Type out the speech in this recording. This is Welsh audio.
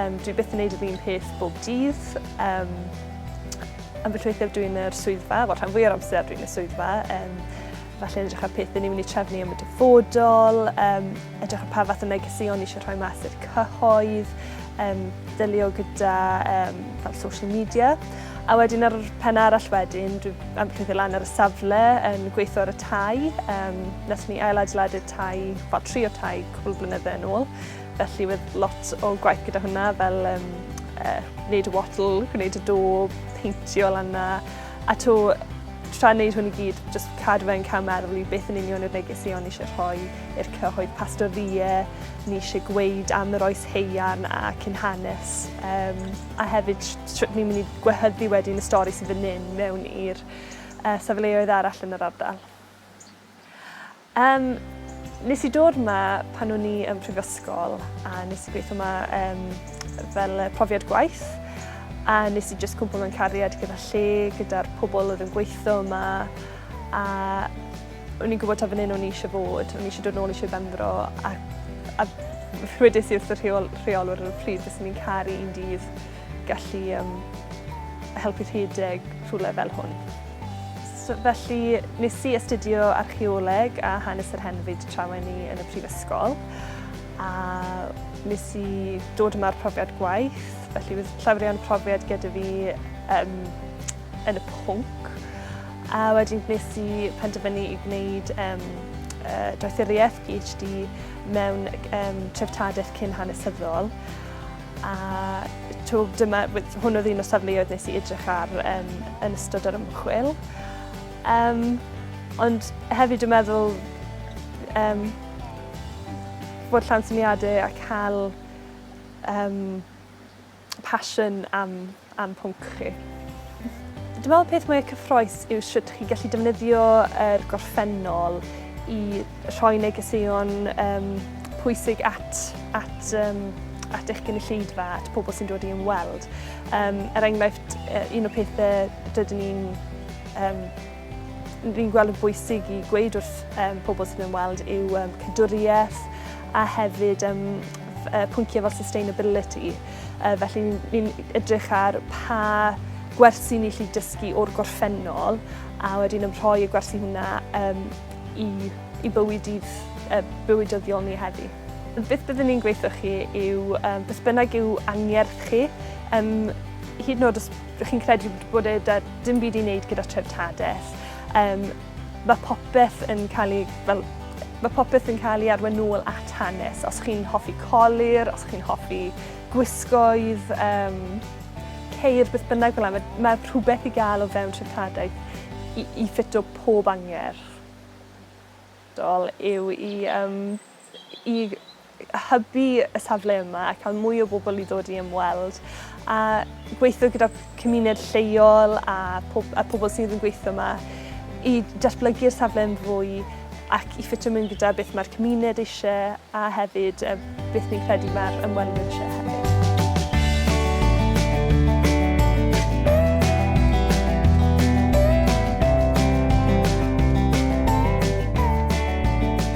Um, dwi byth yn neud yr un peth bob dydd. Um, ambell weithiau dwi'n yr swyddfa, wel rhan fwy o'r amser dwi'n y swyddfa. Um, falle yn edrych ar pethau ni'n mynd i trefnu am y dyfodol, um, edrych ar pa fath o negeseuon eisiau rhoi mas i'r cyhoedd, um, dylio gyda um, fel social media. A wedyn ar y pen arall wedyn, dwi am peth i lan ar y safle yn gweithio ar y tai. Um, nes ni ail adeiladu'r tai, fel tri o tai cwbl blynydde yn ôl. Felly wedd lot o gwaith gyda hwnna fel um, uh, wneud y wattle, gwneud y do, peintio lan na. A to, tra wneud hwn i gyd, just cadw fe'n cael meddwl i beth yn union yw'r neges i o'n eisiau rhoi i'r cyhoedd pastorie, ni eisiau gweud am yr oes heian a cyn hanes, um, a hefyd sut ni'n mynd i gwehyddu wedyn y stori sydd yn un mewn i'r uh, safleoedd arall yn yr ardal. Yym, nes i dod 'ma pan o'n i yn prifysgol a nes i gweithio 'ma yym fel yy profiad gwaith a nes i jyst cwmpo mewn cariad gyda lle, gyda'r pobl oedd yn gweithio yma a o'n i'n gwybod taw fan hyn o'n i eisiau bod, o'n i eisiau dod nôl i Sir Benfro a a rhwedais i wrth y rheol- rheolwr ar y pryd fyswn i'n caru un dydd gallu um, helpu rhedeg rhywle fel hwn. So, felly, nes i astudio archeoleg a hanes yr henfyd trawen i yn y prifysgol. A nes i dod yma'r profiad gwaith, felly bydd llafrion profiad gyda fi um, yn y pwnc. A wedyn nes i penderfynu i gwneud um, uh, doethuriaeth PhD mewn um, treftadaeth cyn hanesyddol. A to, dyma, hwn oedd un o safleoedd nes i edrych ar um, yn ystod yr ymchwil. Um, ond hefyd dwi'n meddwl um, bod llawn syniadau a cael um, passion am a'n pwnc chi. Dwi'n meddwl y peth mwyaf cyffroes yw sut chi'n gallu defnyddio yr gorffennol i rhoi negeseuon um, pwysig at, at, um, at eich gynulleidfa, at pobl sy'n dod i ymweld. Um, er enghraifft, un o'r pethau rydyn ni'n um, Rwy'n gweld yn bwysig i gweud wrth um, pobl sy'n ymweld yw um, cadwriaeth a hefyd um, pwynciau fel sustainability. Uh, felly ni'n edrych ar pa gwersi ni lli dysgu o'r gorffennol a wedyn yn rhoi y gwersi hwnna um, i, i bywyd i, uh, bywydyddiol ni heddi. Beth byddwn ni'n gweithio chi yw um, beth bynnag yw angerdd chi, um, hyd yn oed os Rydych chi'n credu bod e 'da dim byd i wneud gyda treftadaeth. Um, mae popeth yn cael ei... Fel, mae popeth yn cael ei arwain nôl at hanes. Os chi'n hoffi colir, os chi'n hoffi gwisgoedd, um, ceir, beth bynnag fel yna, mae, mae rhywbeth i gael o fewn treftadaeth i, i ffito pob angerdd. Dol yw i um, i hybu y safle yma a cael mwy o bobl i ddod i ymweld a gweithio gyda cymuned lleol a, pob, a pobl sydd yn gweithio yma i datblygu'r safle yn fwy ac i ffitio mewn gyda beth mae'r cymuned eisiau a hefyd e, beth ni'n credu mae'r ymwelwyr eisiau hefyd.